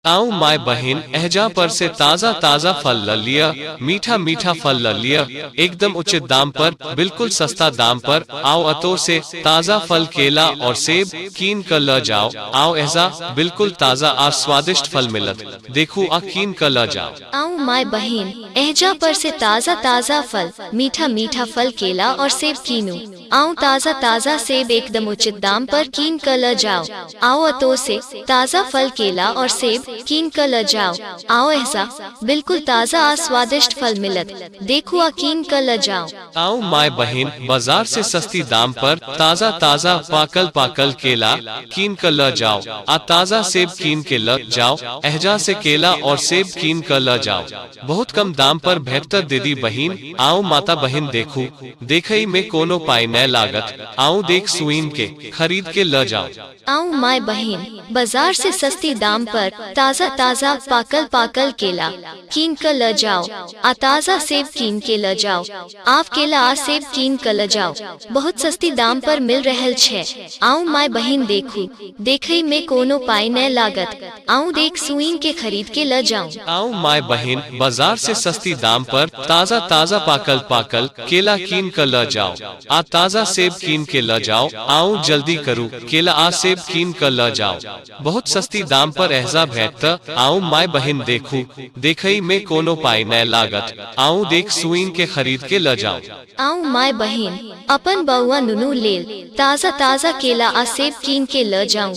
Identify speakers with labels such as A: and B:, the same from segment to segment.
A: आऊ माय बहिन एहजा पर से ताजा ताजा फल ल लिया मीठा मीठा फल ल लिया एकदम उचित दाम पर बिल्कुल सस्ता दाम पर आओ अतो से ताजा फल केला और सेब कीन कर ल जाओ आओ एहजा बिल्कुल ताजा और स्वादिष्ट फल मिलत देखू आ कीन कर ल जाओ आऊ माय बहिन एहजा पर से ताजा ताजा फल मीठा मीठा फल केला और सेब कीनू आऊं ताजा ताजा सेब एकदम उचित दाम पर कीन कर ल जाओ आओ अतो से ताजा फल केला और सेब कीन कर ल जाओ आओ ऐसा बिल्कुल ताजा आ स्वादिष्ट फल मिलत देखो आ कीन कर ल जाओ आओ माय बहन बाजार से सस्ती दाम पर ताजा ताजा पाकल पाकल केला कीन कर ल जाओ आ ताजा सेब कीन के ल जाओ एहजा से केला और सेब कीन कर ल जाओ बहुत कम दाम पर बेहतर दीदी बहन आओ माता बहन देखो देखइ में कोनो पाइ नै लागत। आउ देख सुइन के, खरीद के लऽ जाउ। आउ माय बहिन, बजार से सस्ती दाम पर, ताजा ताजा, पाकल पाकल केला, कीन कऽ लऽ जाउ। आ ताजा सेब कीन के लऽ जाउ। आव केला आ सेब कीन कऽ लऽ जाउ। बहुत सस्ती दाम पर मिल रहल छै। आउ माय बहिन देखू, देखइ में कोनो पाइ नै लागत। आऊँ देख सुईन के खरीद के ल जाऊँ आऊँ माय बहिन बाजार से सस्ती दाम पर ताजा ताजा पाकल पाकल केला कीन क ल जाओ आ ताजा सेब कीन के ल जाओ आऊँ जल्दी करू केला आ सेब कीन क ल जाओ बहुत सस्ती दाम पर एहजा भेट त आऊँ माय बहिन देखू देखई में कोनो पाई न लागत आऊँ देख सुईन के खरीद के ल जाओ आऊँ माय बहिन अपन बउआ नुनू लेल ताजा ताजा केला आ सेब कीन के ल जाऊँ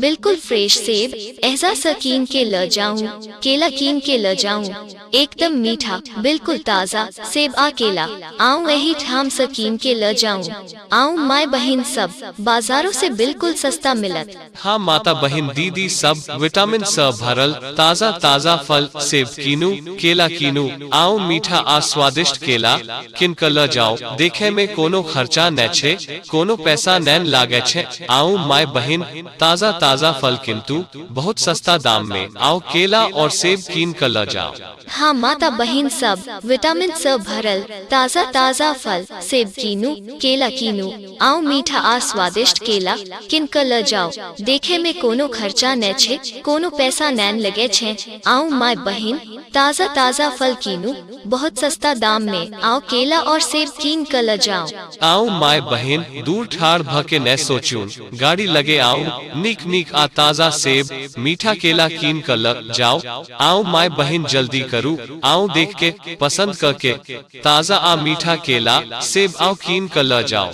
A: बिल्कुल फ्रेश सेब एहजा सकीन के ल जाऊं केला कीन के ल जाऊं एकदम मीठा बिल्कुल ताजा सेब आ केला आऊं यही ठाम सकीन के ल जाऊं आऊं माय बहन सब बाजारों से बिल्कुल सस्ता मिलत हाँ माता बहन दीदी सब विटामिन स भरल ताजा ताजा फल सेब कीनू केला कीनू आओ मीठा आ स्वादिष्ट केला किनकर ल जाओ देखे में कोनो खर्चा न छे कोनो पैसा नैन लागे छे आउ माय बहिन ताजा ताजा फल किंतु बहुत सस्ता दाम में आउ केला और सेब कीन क ल जाओ हाँ माता बहिन सब विटामिन स भरल ताजा ताजा फल सेब कीनू केला कीनू आउ मीठा आ स्वादिष्ट केला किन क ल जाओ देखे में कोनो खर्चा न छे कोनो पैसा नैन लगे छे आउ माय बहिन ताजा ताजा फल कीनू बहुत सस्ता दाम में आओ केला और सेब कीन कर ल जाओ आओ माय बहन दूर ठाड़ भके न सोचून गाड़ी लगे आओ निक निक आ ताजा सेब मीठा केला कीन कर ल जाओ आओ माय बहन जल्दी करू आओ देख के पसंद करके ताजा आ मीठा केला सेब आओ कीन कर ल जाओ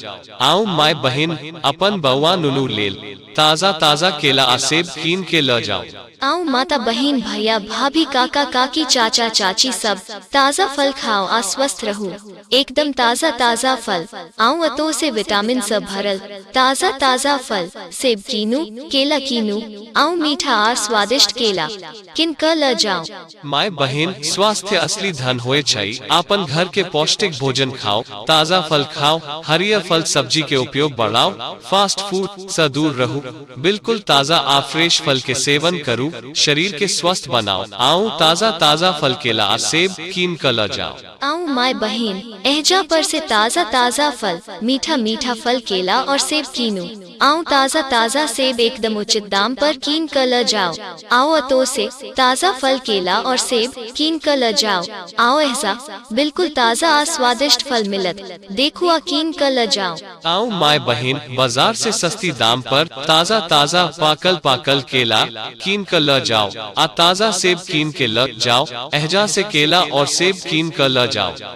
A: आओ माय बहन अपन बउआ नुनू लेल ताजा ताजा केला आ सेब कीन के ल जाओ आऊ माता बहिन भैया भाभी काका काकी चाचा चाची सब ताजा फल खाओ आ स्वस्थ रहो एकदम ताजा ताजा फल आऊ अतो से विटामिन से भरल ताजा ताजा फल सेब कीनू केला कीनू आऊ मीठा आर स्वादिष्ट केला किन क ल जाओ माय बहिन स्वास्थ्य असली धन होए छै अपन घर के पौष्टिक भोजन खाओ ताजा फल खाओ हरियर फल सब्जी के उपयोग बढ़ाओ फास्ट फूड से दूर रहू बिल्कुल ताजा आ फ्रेश फल के सेवन करू शरीर के स्वस्थ बनाओ आओ ताजा ताजा फल केला आ सेब कीन कर ल जाओ आऊं माय बहन एहजा पर से ताजा ताजा फल मीठा मीठा फल केला और सेब कीनू आऊं ताजा ताजा सेब एकदम उचित दाम पर कीन कर ल जाओ आओ अतो से ताजा फल केला और सेब कीन कर ल जाओ आओ ऐसा बिल्कुल ताजा आ स्वादिष्ट फल मिलत देखो आ कीन कर ल जाओ आओ माय बहन बाजार से सस्ती दाम पर ताजा ताजा पाकल पाकल केला कीन कर ल जाओ आ ताजा सेब कीन के ल जाओ एहजा से केला और सेब कीन कर ल जाओ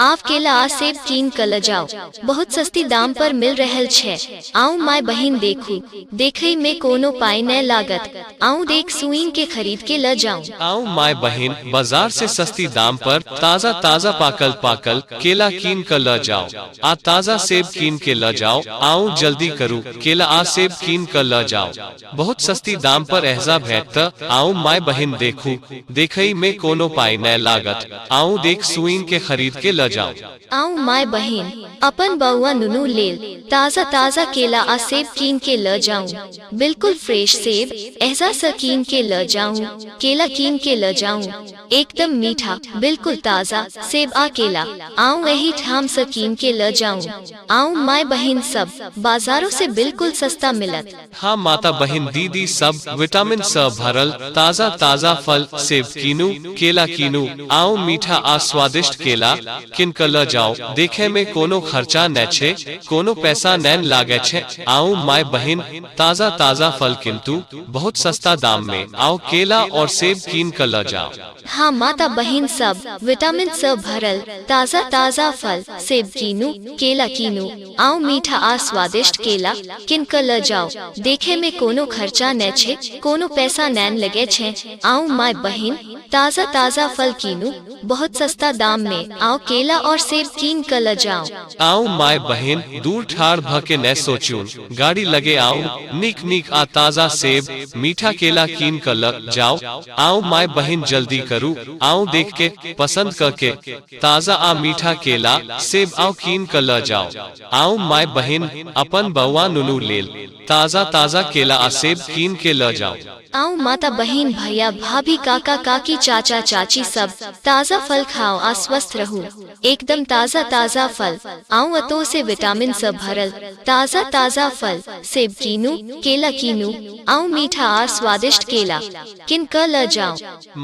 A: आव केला आ सेब कीन क ल जाओ बहुत सस्ती दाम पर मिल रहल छै आउ माय बहिन देखू देखई में कोनो पाई नै लागत आउ देख सुईन के खरीद के ल जाऊ आउ माय बहिन बाजार से सस्ती दाम पर ताजा ताजा पाकल पाकल केला कीन क ल जाओ आ ताजा सेब कीन के ल जाओ आउ जल्दी करू केला आ सेब कीन क ल जाओ बहुत सस्ती दाम पर एहजा भेट त आऊ माय बहिन देखू देखई में कोनो पाई नै लागत आऊ देख सुईन के खरीद के ल जाऊ आऊ माय बहिन अपन बउआ नुनू लेल ताजा ताजा केला आ सेब कीन के ल जाऊ बिल्कुल फ्रेश सेब एहजा स कीन के ल जाऊ केला कीन के ल जाऊ एकदम मीठा बिल्कुल ताजा सेब आ केला आऊ यही ठाम स कीन के ल जाऊ आऊ माय बहिन सब बाजारों से बिल्कुल सस्ता मिलत हाँ माता बहिन दीदी सब विटामिन स भरल ताजा ताजा फल सेब कीनू केला कीनू आउ मीठा आ स्वादिष्ट केला किन क ल जाउ देखै में कोनो खर्चा नै छै कोनो पैसा नैन लागै छै आउ माय बहिन ताजा ताजा फल किन्तु बहुत सस्ता दाम में आउ केला और सेब कीन क ल जाउ हाँ माता बहिन सब विटामिन स भरल ताजा ताजा फल सेब कीनू केला कीनू आउ मीठा आ स्वादिष्ट केला किन क ल जाउ देखे में कोनो खर्चा नै छै कोनो पैसा नैन लगे छै आउ माय बहिन ताजा ताजा फल कीनू बहुत सस्ता दाम में आउ केला और सेब कीन क ल जाउ आउ माय बहिन दूर ठार भ के नै सोचू गाड़ी लगे आउ नीक नीक आ ताजा सेब मीठा केला कीन क ल जाउ आउ माय बहिन जल्दी करू आउ देख के पसंद क के ताजा आ मीठा केला, सेब आउ कीन क ल जाउ। आउ माय बहिन, अपन बौआ नुनू लेल, ताजा ताजा केला आ सेब कीन के ल जाउ। आउ माता बहिन, भैया, भाभी, काका, काकी, चाचा, चाची सब, ताजा फल खाउ आ स्वस्थ रहु। एकदम ताजा ताजा फल, आउ अतोह से विटामिन स भरल, ताजा ताजा फल, सेब कीनु, केला कीनु, आउ मीठा आर स्वादिष्ट केला, किन क ल जाउ।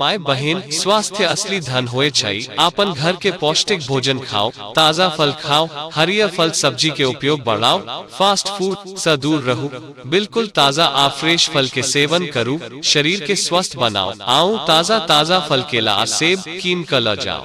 A: माय बहिन स्वास्थ्य असली धन होए छै अपन घर के पौष्टिक भोजन खाओ ताजा फल खाओ हरियर फल सब्जी के उपयोग बढ़ाओ फास्ट फूड से दूर रहू बिल्कुल ताजा आ फ्रेश फल के सेवन करू शरीर के स्वस्थ बनाओ आओ ताजा ताजा फल केला आ सेब कीन कर ल जाओ